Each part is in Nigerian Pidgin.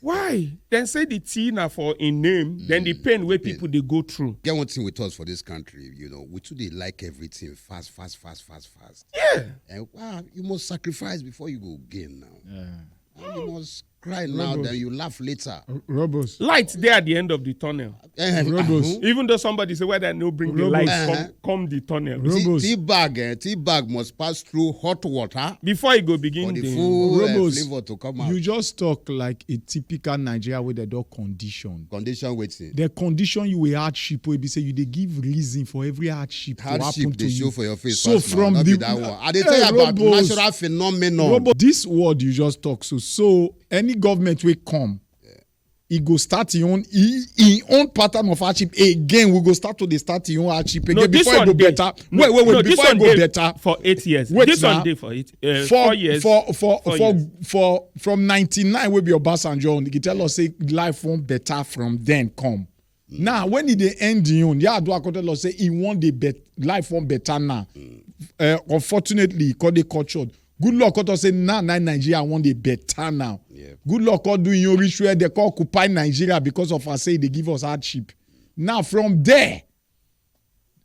why dem say the tea na for im name then the mm, pain wey people dey go through. get one thing with us for this country you know we too dey like everything fast fast fast fast fast. yeah. and wow you must sacrifice before you go gain now. Yeah. you must cry now then you laugh later. robos. light dey at the end of the tunnel. Eh, Robos. ahun. Even though somebody say whether no bring the Robos. light Uh-huh. come, come the tunnel. Ro- Tea- Robos. Tea bag, eh, tea bag must pass through hot water Before it go for begin the the full eh, Robos. flavor to come out. You just talk like a typical Nigeria wey dem don condition. Condition waiting. Dem condition you with hardship wey be say you dey give reason for every hardship to happen Hardship to they show you. for your face. So first now, from not the be that one. I dey Eh, tell you about Robos. natural phenomenon. Robo, this word you just talk so so any government wey come e go start im own im own pattern of hardship again we go start to dey start im own hardship again no, before e go dey. better no, wait wait wait no, before e go better for eight years wait this na, one dey for eight uh, for, four years for for four for, years. for from ninety-nine wey be obasanjo own he tell us say life wan better from then come Mm. Now, when he dey end the own, yeah, do Akoto Lord say he want the bet life one better now. Mm. Uh, unfortunately, he called the cultured. Good luck, Koto say now, now Nigeria want the better now. Yeah. Good luck, Koto doing your ritual. They call occupy Nigeria because of us say they give us hardship. Now, from there,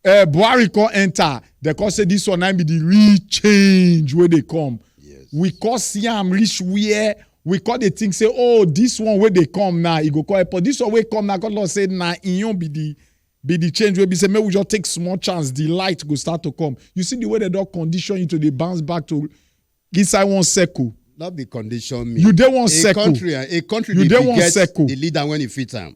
uh, buhari come enter dem come say this one na be the real change wey dey come yes. we come see am reach where we come dey think say oh this one wey dey come now e go come help us this one wey come now come don say na im own be the be the change wey be say make we just take small chance the light go start to come you see the way dem don condition you to dey bounce back to inside one circle not be condition me. You dey one circle. A country, a country you dey one circle. The leader when he fit am.